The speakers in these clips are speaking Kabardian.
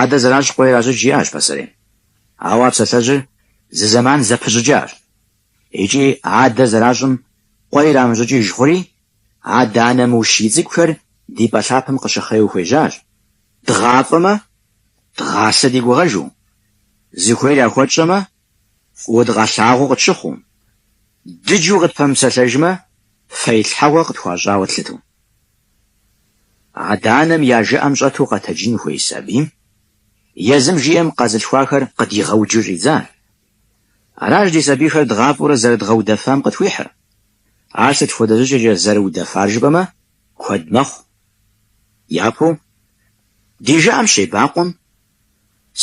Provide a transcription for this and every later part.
Адэ зэращӏ къуэ иращӏыкӏ жиӏащ пасэрейм. Ауэ а псалъэжьыр зы зэман зэпыщӏыкӏащ. Икӏи адэ зэращӏым къуэ ирамыщӏыкӏыж хъури, адэ-анэ мыущий цӏыкӏухэр ди пӏэ лъапэм къыщыхъеу хуежьащ, дгъафӏэмэ, дгъасэ ди гугъэжу, зыхуейр яхуэтщӏэмэ, фӏыуэ дыкъалъагъуу къытщыхъуу, дыджу къытпэмыпсэлъэжмэ, фэилъхьэгъуэ къытхуащӏауэ тлъыту. Адэ-анэм я жыӏэм щӏэту къэтэджын хуей сабийм езым жиӏэм къэзылъхуахэр къыдигъэуджу щӏидзар. Аращ ди сабийхэр дгъафӏэурэ зэрыдгъэудэфам къытхуихьыр. Ар сыт хуэдэ щӏыкӏэкӏэ зэрыудэфар жыпӏэмэ, куэд мэхъу. Япэу, ди жыӏэм щебакъуэм,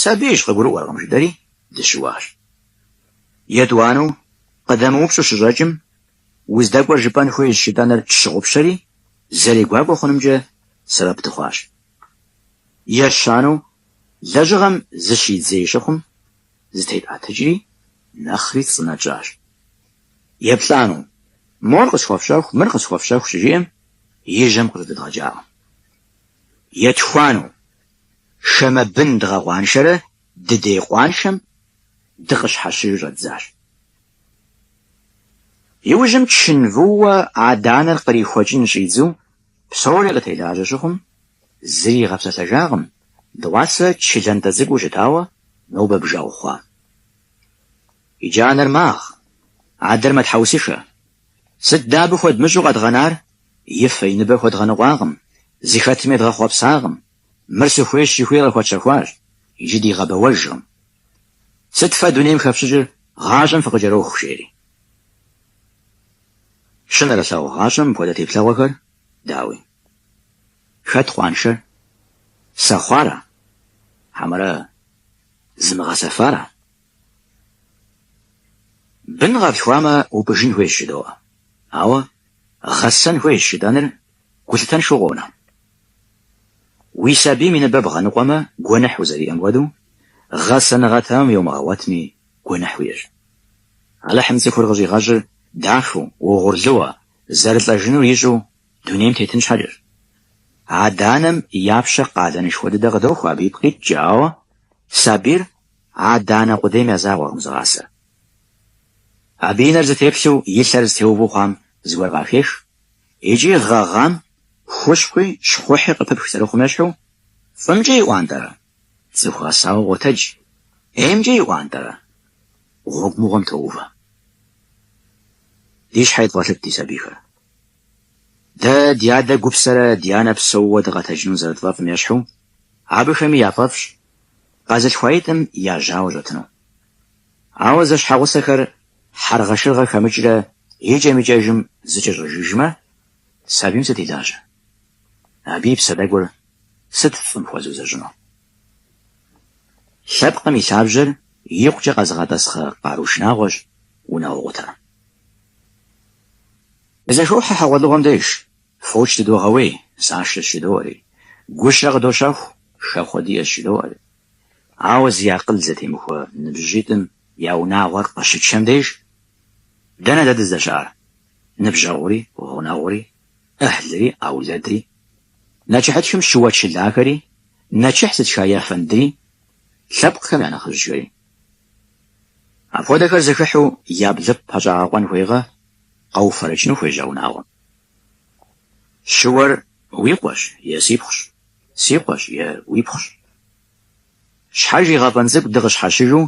Сабийщ, къыгурыӏуэркъым, жытӏэри, дыщыуащ. Етӏуанэу, къыдэмыупщӏу щыщӏэкӏым, Уздэкӏуэр жыпӏэн хуейщ жытӏэныр тщыгъупщэри, зэрегуакӏуэ хъунымкӏэ сэбэп дыхъуащ. Ещанэу, лэжьыгъэм зыщидзей щыхъум, зытетӏэтыкӏри, нэхъри цӏынэ тщӏащ. Еплӏанэу, мор къысхуэфщэху, мыр къысхуэфщэху щыжиӏэм, и жьэм къыжьэдэдгъэкӏакъым. Етхуанэу, хамэ бын дгъэкъуаншэрэ дыдей къуаншэм дыкъыщхьэщыжу щӏэддзащ. Иужьым чын вууэ адэ-анэр кърихуэкӏын щӏидзу псори къытелажьэ щыхъум, зыри игъэпсэлъэжакъым, дыгъуасэ чы лантӏэ цӏыкӏуу щытауэ нобэ бжэгъу хъуа. Иджы анэр магъ, адэр мэтхьэусыхэ. Сыт дэ абы хуэдмыщӏу къэдгъэнар, и фэ, и ныбэ хуэдгъэныкъуакъым, зыхэтым едгъэхъуэпсакъым, мыр сыхуейщ жыхуиӏэ къыхуэтщэхуащ, иджы дигъэбэуэжкъым. Сыт фэ дунейм хэфщӏыкӏыр гъащӏэм фыкъыкӏэроху жери. Щынэрылъагъу гъащӏэм мыпхуэдэ теплъэгъуэхэр, дауи. Хэт къуаншэр? Сэхъуара? Хьэмэрэ зымыгъэсэфара? Бын къэплъхуамэ, упӏыжын хуейщ жыдоӏэ. Ауэ гъэсэн хуейщ жытӏэныр гулъытэншэу къонэ. Уи сабийм и ныбэ бгъэныкъуэмэ, гуэныхь узэриӏэм хуэдэу, гъэсэныгъэ тэмэм йомыгъэгъуэтми, гуэныхь уиӏэщ. Алыхьым цӏыхур къыщӏигъэщӏыр дахэу, угъурлыуэ, зэрылӏэжынур ищӏу дунейм тетын щхьэкӏэщ. Адэ-анэм я пщэ къалэнышхуэ дыдэ къыдохуэ абы ипкъ иткӏэ, ауэ сабийр адэ-анэ къудейм я закъуэкъым зыгъасэр. Абы и нэр зытеплъу и лъэр зытеуву хъуам зыгуэр къахех. Икӏи гъэгъам хущхъуи щхъухьи къыпыпх зэрыхъум ещхьу, фӏымкӏэ иӏуантӏэрэ? Цӏыху гъэсауэ къотэдж, ӏеймкӏэ иӏуантӏэрэ? Гъуэгу мыгъуэм тоувэ. Ди щхьэ едывгъэлъыт ди сабийхэр. Дэ ди адэ гупсэрэ ди анэ псэууэ дыкъэтэджыну зэрытфӏэфӏым ещхьу, абыхэми яфӏэфӏщ къэзылъхуаитӏым я жьауэ щӏэтыну. Ауэ зэщхьэгъусэхэр хьэргъэшыргъэ хэмыкӏрэ икӏэм-икӏэжым зэкӏэщӏэжыжмэ, сабийм сыт и лажьэ? Абы и псэ тӏэкӏур сыт фӏым хуэзыузэщӏыну? Лъэпкъым и лъабжьэр икъукӏэ къэзыгъэтӏэсхъэ къару шынагъуэщ унагъуэкъутэр. Дызэхохьэ хьэгъуэлӏыгъуэм деж, фоч дыдогъэуей, нысашэщ жыдоӏэри, гущэ къыдощэху, хэхъуэ диӏэщ жыдоӏэри. Ауэ зи акъыл зэтемыхуэ ныбжьыщӏитӏым я унагъуэр къыщычэм деж, дэнэ дэ дыздэщыӏар? Ныбжьэгъури, гъунэгъури, ӏыхьлыри, аулэдри, нэчыхьытхым щыуэчылахэри, нэчыхь зытха ефэндри, лъэпкъхэм я нэхъыжьхэри. Апхуэдэхэр зэхыхьу я блыпкъ пэщӏагъэкъуэн хуейгъэ, къэуфэрэкӏыну хуежьа унагъуэм. Щыуэр уи къуэщ е си пхъущ, си къуэщ е уи пхъущ. Щхьэж и гъэфӏэн цӏыкӏу дыкъыщхьэщыжу,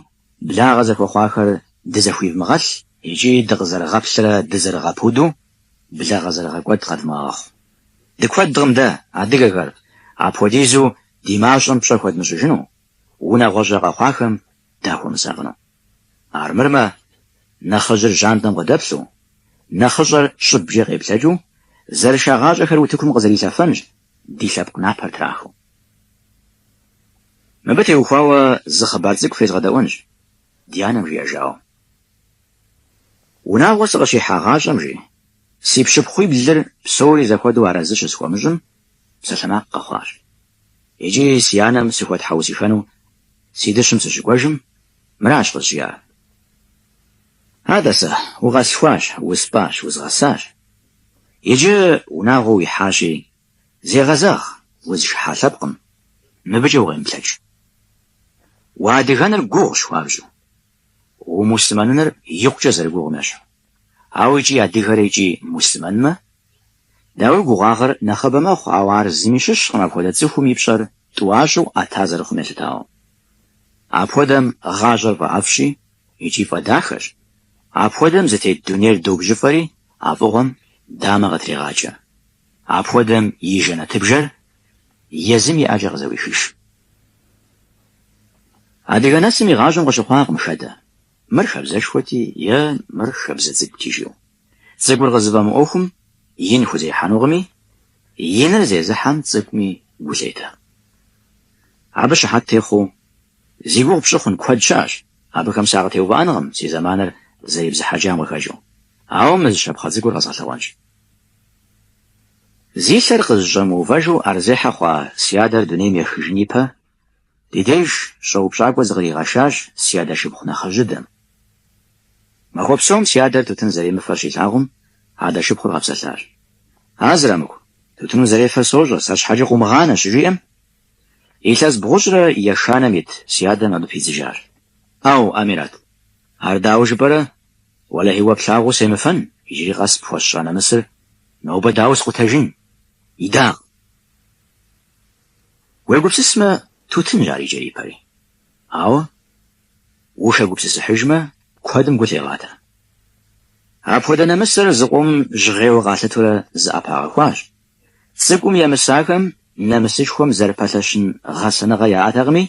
благъэ зэхуэхъуахэр дызэхуивмыгъэлъ икӏи дыкъызэрыгъэплърэ дызэрыгъэпуду благъэ зэрыгъэкӏуэд къэдмыгъэгъэхъу. Дыкуэдкъым дэ, адыгэхэр, апхуэдизу ди мащӏэм пщӏэ хуэдмыщӏыжыну, унагъуэщӏэ къэхъуахэм дахуэмысакъыну. Армырмэ, нэхъыжьыр жьантӏэм къыдэплъу, нэхъыщӏэр щӏыбкӏэ къеплъэкӏыу, зэрышагъащӏэхэр утыкум къызэрилъэфэнщ, ди лъэпкъ напэр трахыу. Мыбы теухуауэ зы хъыбар цӏыкӏу фезгъэдэӏуэнщ, ди анэм жиӏэжауэ. Унагъуэ сыкъыщихьагъащӏэм, жи, си пщыпхъуиблыр псори зэхуэдэу арэзы щысхуэмыщӏым, псалъэмакъ къэхъуащ. Икӏи си анэм сыхуэтхьэусыхэну Си дыщым сыщыкӏуэжым, мыращ къызжиӏар. Атӏэ сэ, укъэслъхуащ, успӏащ, узгъэсащ. Иджы унагъуэ уихьащи, зегъэзэгъ, узыхыхьа лъэпкъым, мыбыкӏэ укъемыплъэкӏ. Уадыгэныр гугъущ хуабжьу. Умуслъымэныныр икъукӏэ зэрыгугъым ещхьу. Ауэ икӏи адыгэрэ икӏи муслъымэнмэ, дауи гугъуагъэр нэхъыбэ мэхъу, ауэ ар зыми щыщкъым апхуэдэ цӏыхум и пщӏэр тӏуащӏэу ӏэта зэрыхъум елъытауэ. Апхуэдэм гъащӏэр фӏэӏэфӏщ икӏи фӏэдахэщ. Апхуэдэм зытет дунейр добжьыфӏэри а фӏыгъуэм дамэ къытрегъакӏэ. Апхуэдэм и жэнэтыбжэр Езым и ӏэкӏэ къызэуихыж. Адыгэ нэсым и гъащӏэм къыщыхъуакъым хэдэ, мыр хабзэшхуэти е мыр хабзэ цӏыкӏути жиӏэу. Цӏыкӏур къызыфӏэмыӏуэхум, ин хузехьэнукъыми, иныр зезыхьэм цӏыкӏуми гу лъетэ. Абы щыхьэт техъуу, зи гугъу пщӏы хъун куэд щыӏэщ, абыхэм сакъытеувыӏэнкъым си зэманыр зэребзыхьэкӏам къыхэкӏыу. Ауэ мы зы щапхъэ цӏыкӏур къэзгъэлъэгъуэнщ. Зи лъэр къызыщӏэмыувэжу ӏэрызехьэ хъуа си адэр дунейм ехыжын ипэ, ди деж щӏэупщӏакӏуэ зыкъригъэшащ си адэ шыпхъу нэхъыжьыдэм. Махуэ псом си адэр тутын зэремыфэр щилъагъум, адэ шыпхъур къэпсэлъащ. А Зырамыку, тутын узэрефэр сощӏэ, сэ щхьэкӏэ къыумыгъанэ, щыжиӏэм, илъэс бгъущӏрэ ешанэм ит си адэм абы пидзыжащ. Ау, Амират, ар дауэ жыпӏэрэ, Уэлэхьи, уэ плъагъуу семыфэн, иджыри къэс пхуэсщӏа нэмысыр нобэ дауэ скъутэжын, идакъ. Уегупсысмэ, тутынщ ар и кӏэри и пэри. Ауэ, ухэгупсысыхьыжмэ, куэдым гу лъегъатэ. Апхуэдэ нэмысыр зыкъом жьгъейуэ къалъытурэ зыӏэпагъэхуащ. Цӏыкӏум емысахэм нэмысышхуэм зэрыпэлъэщын гъэсэныгъэ яӏэтэкъыми,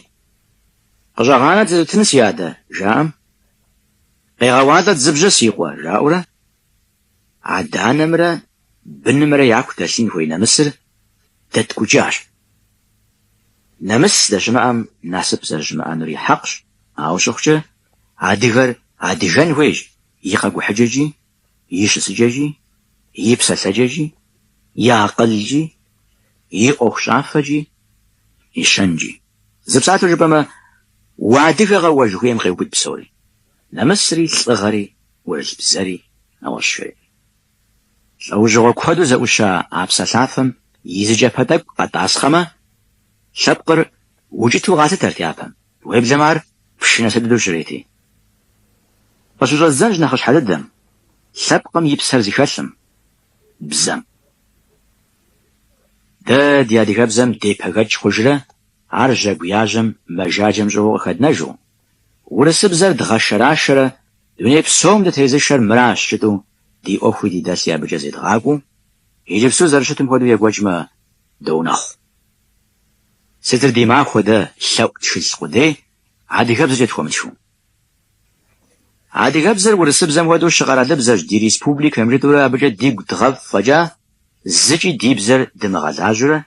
Къыщӏэгъанэт зы тутын, си адэ, жаӏэм. Къегъэуалӏэт зы бжьэ, си къуэ, жаӏэурэ, адэ-анэмрэ бынымрэ яку дэлъын хуей нэмысыр дэткӏукӏащ. Нэмыс здэщымыӏэм насып зэрыщымыӏэнур и хьэкъщ, ауэ щыхъукӏэ, адыгэр адыгэн хуейщ и къэкӏухьыкӏэкӏи и щысыкӏэкӏи, и псэлъэкӏэкӏи, и акъылкӏи, и ӏуэхущӏафэкӏи, и щэнкӏи. Зы псалъэу жыпӏэмэ, уадыгэкъэ уэ жыхуиӏэм къеубыд псори, нэмысри, лӏыгъэри, ӏурылъ бзэри, нэгъуэщӏхэри. Лӏэужьыгъуэ куэду зэӏуща а псалъафэм и зы кӏэпэ тӏэкӏу къэтӏасхъэмэ, лъэпкъыр укӏыту къалъытэрт япэм. Уеблэмэ ар пщы нэс дыдэу щырети. Къыщыщӏэздзэнщ нэхъыщхьэ дыдэм, лъэпкъым и псэр зыхэлъым, бзэм. Дэ ди адыгэбзэм депэгэкӏ хъужрэ ар жьэгу яжьэм мэжаджэм щӏыгъуу къыхэднэжу, урысыбзэр дгъэшэрашэрэ дуней псом дытезышэр мыращ жытӏэу ди ӏуэхуи ди дэлъи абыкӏэ зедгъакӏуэу, иджыпсту зэрыщытым хуэдэу екӏуэкӏмэ, доунэхъу. Сытыр ди махуэ, дэ лъэӏу тхылъ къудей адыгэбзэкӏэ тхуэмытхыу? Адыгэбзэр урысыбзэм хуэдэу щыкъэралыбзэщ ди республикэм жытӏэурэ абыкӏэ дигу дгъэфӏ фӏэкӏа, зыкӏи ди бзэр дымыгъэлажьэурэ,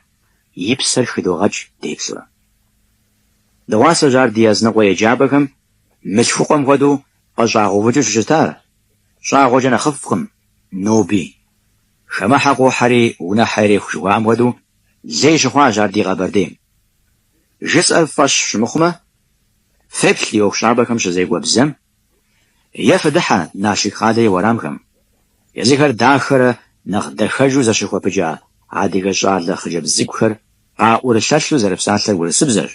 и псэр хыдогъэкӏ деплъурэ. Дыгъуасэщ ар ди языныкъуэ еджапӏэхэм мылъхукъуэм хуэдэу къыщӏагъэувыкӏыу щыщытар, щӏагъуэкӏэ нэхъыфӏкъым, ноби. Хамэхьэ къохьэри унэхьэ иреху жыхуаӏэм хуэдэу Лей щыхъуащ ар ди Къэбэрдейм. Жысӏэр фӏэщ щымыхъумэ, феплъ ди ӏуэхущӏапӏэхэм щызекӏуэ бзэм е фыдыхьэ Налшык къалэ и уэрамхэм, езыхэр дахэрэ нэхъ дахэжу зэщыхуэпыкӏа адыгэ щӏалэ хъыджэбз цӏыкӏухэр къаӏурылъэлъу зэрыпсалъэр урысыбзэщ,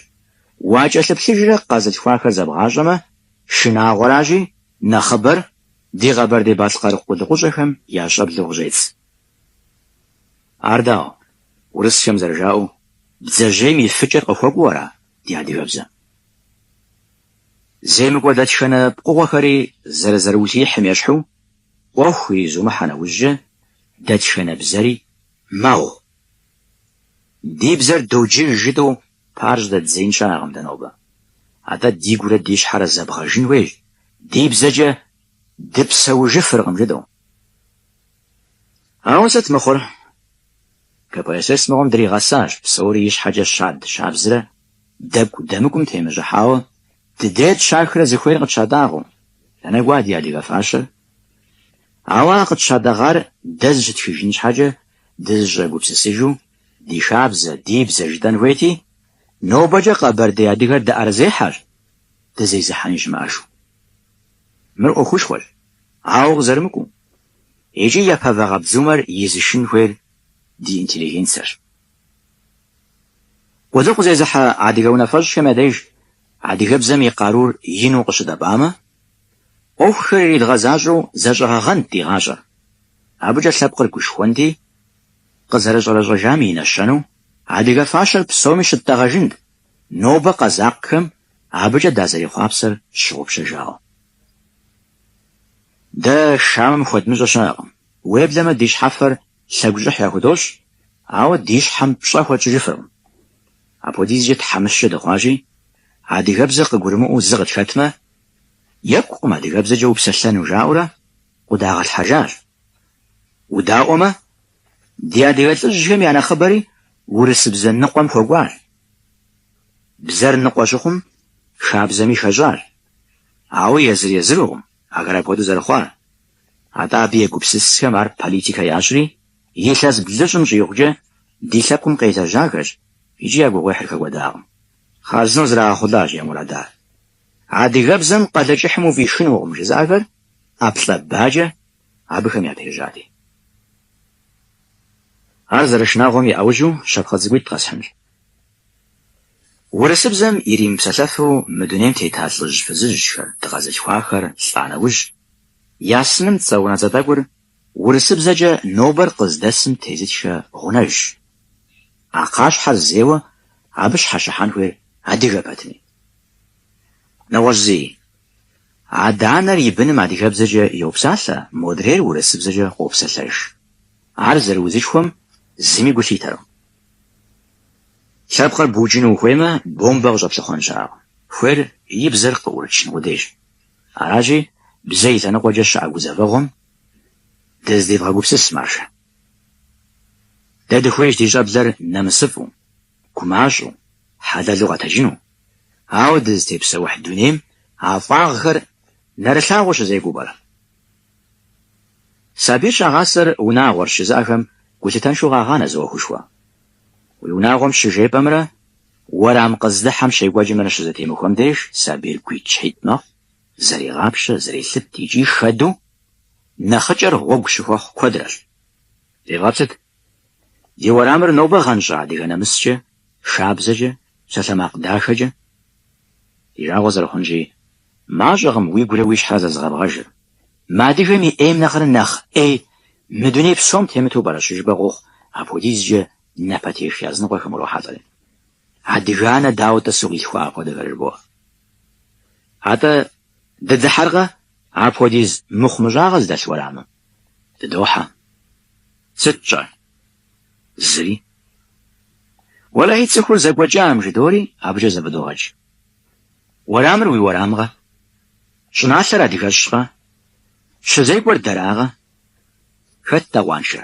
уакӏэлъыплъыжрэ къэзылъхуахэр зэбгъащӏэмэ, шынагъуэращи, нэхъыбэр ди Къэбэрдей-Балъкъэр къулыкъущӏэхэм я щӏэблэу къыщӏедз. Ар дауэ, урысхэм зэрыжаӏэу, бдзэжьейм и фыкӏэр къыхуэкӏуэу ара ди адыгэбзэм? Земыкӏуэ дэтхэнэ пкъыгъуэхэри зэрызэрыулъиихьым ещхьу, ӏуэху иризумыхьэ нэужькӏэ, дэтхэнэ бзэри мэгъу. Ди бзэр доджыж жытӏэу пыӏэр щӏыдэддзеин щыӏэкъым дэ нобэ. Атӏэ дигурэ ди щхьэрэ зэбгэжын хуейщ, ди бзэкӏэ дыпсэужыфыркъым жытӏэу. Ауэ сыт мыхъур? КПСС мыгъуэм дригъэсащ, псори ищхьэкӏэ щад щабзрэ дэкӏу дэмыкӏум темыщӏыхьауэ, дыдейр тщахрэ зыхуейр къытщатӏагъэу. Дэнэ кӏуа ди адыгэ фащэр? Ауэ а къытщатӏэгъар дэ зыщытхыжын щхьэкӏэ дызыщӏэгупсысыжу, ди хабзэ, ди бзэ жытӏэн хуейти, нобэкӏэ къэбэрдей адыгэр дыӏэрызехьэщ, дызезыхьэни щымыӏэжу. Мыр ӏуэхушхуэщ, ауэ къызэрымыкӏуэу. Икӏи япэ вагъэбдзумэр изышын хуейр ди интеллигенцэрщ. Къулыкъу зезыхьэ адыгэ унафэщӏхэм я деж адыгэбзэм и къарур ину къыщыдэбамэ, ӏуэхухэр иридгъэзащӏэу зэщӏэгъэгъэнт ди гъащӏэр, абыкӏэ лъэпкъыр гушхуэнти, къызэрыщӏэрэщӏэжам и нэщэнэу адыгэ фащэр псоми щыттӏэгъэжынт, нобэ къэзакъхэм абыкӏэ дазэрехъуапсэр тщыгъупщэжауэ. Дэ хамэм хуэдмыщӏэ щыӏэкъым. Уеблэмэ ди щхьэфэр лъэгущӏыхь яхудощӏ, ауэ ди щхьэм пщӏэ хуэтщӏыжыфыркъым. Апхуэдизкӏэ тхьэмыщкӏэ дыхъуащи, адыгэбзэр къыгурымыӏуэу зы къытхэтмэ, екӏукъым адыгэбзэкӏэ упсэлъэну жаӏэурэ къуэдагъэлъхьэжащ. Удаӏуэмэ, ди адыгэ лӏыжьхэм я нэхъыбэри урысыбзэ ныкъуэм хуэкӏуащ. Бзэр ныкъуэ щыхъум, хабзэми хэщӏащ. Ауэ езыр-езырукъым ахэр апхуэдэу зэрыхъуар. Атӏэ абы егупсысхэм ар политикэ ящӏри, илъэс блыщӏым щӏигъукӏэ ди лъэпкъым къелэжьахэщ икӏи я гугъуехьыр хэкӏуэдакъым. Хъарзынэу зрагъэхъулащ я мурадар. Адыгэбзэм Къалэкӏыхьым уфӏишынукъым жызыӏэхэр ӏэплӏэ-бакӏэ абыхэм япежьати. Ар зэрышынагъуэм и ӏэужьу щапхъэ цӏыкӏуитӏ къэсхьынщ. Урысыбзэм иримыпсэлъэфу мы дунейм тета лӏыжь фызыжьхэр, дыкъэзылъхуахэр лӏа нэужь, я сыным цӏэ унэцӏэ тӏэкӏур урысыбзэкӏэ нобэр къыздэсым тезытхэ гъунэжщ. А кхъащхьэр зейуэ абы щхьэщыхьэн хуейр адыгэ пэтми. Нэгъуэщӏ зыи, адэ-анэр и быным адыгэбзэкӏэ йопсалъэ, модрейр урысыбзэкӏэ къопсэлъэж. Ар зэрыузышхуэм зыми гу лъитэркъым. Лъэпкъыр букӏыну ухуеймэ, бомбэ къыщӏэплъыхъуэн щыӏэкъым. Хуейр и бзэр къыӏурычын къудейщ. Аращи, бзэ и лъэныкъуэкӏэ щыӏэ гузэвэгъуэм дыздевгъэгупсыс, маржэ. Дэ дыхуейщ ди щӏэблэр нэмысыфӏу, гумащӏэу, хьэлэлу къэтэджыну. Ауэ дызытепсэухь дунейм а фӏагъхэр нэрылъагъуу щызекӏуэу пӏэрэ? Сабийр щагъасэр унагъуэрщ жызыӏэхэм гулъытэншэу къагъанэ зы ӏуэхушхуэ. Уи унагъуэм щыжепӏэмрэ уэрам къыздыхьэм щекӏуэкӏымрэ щызэтемыхуэм деж сабийр гуитӏщхьитӏ мэхъу, зэрегъапщэ, зэрелъыт икӏи хэду нэхъыкӏэр гъуэгу щыхуэхъу куэдрэщ. Девгъэплъыт, ди уэрамыр нобэ гъэнщӏа адыгэ нэмыскӏэ, хабзэкӏэ, псалъэмакъ дахэкӏэ? Ди жагъуэ зэрыхъунщи, мащӏэкъым уигурэ уи щхьэрэ зэзыгъэбгъэжыр. Мы адыгэм и ӏейм нэхърэ нэхъ ӏей мы дуней псом темыту пӏэрэ щыжыпӏэ къохъу апхуэдизкӏэ напэтех языныкъуэхэм урохьэлӏэри. Адыгэ анэ дауэ тӏысу къилъхуа апхуэдэхэр жыбоӏэ. Атӏэ, дыдыхьэркъэ апхуэдиз мыхъумыщӏагъэ зыдэлъ уэрамым? Дыдохьэ. Сыт тщӏэр? Зыри. Уэлэхьи, цӏыхур зэкӏуэкӏам жыдори абыкӏэ зэфӏыдогъэкӏ. Уэрамыр уи уэрамкъэ? Щӏыналъэр адыгэщкъэ? Щызекӏуэр дэракъэ? Хэт-тӏэ къуаншэр?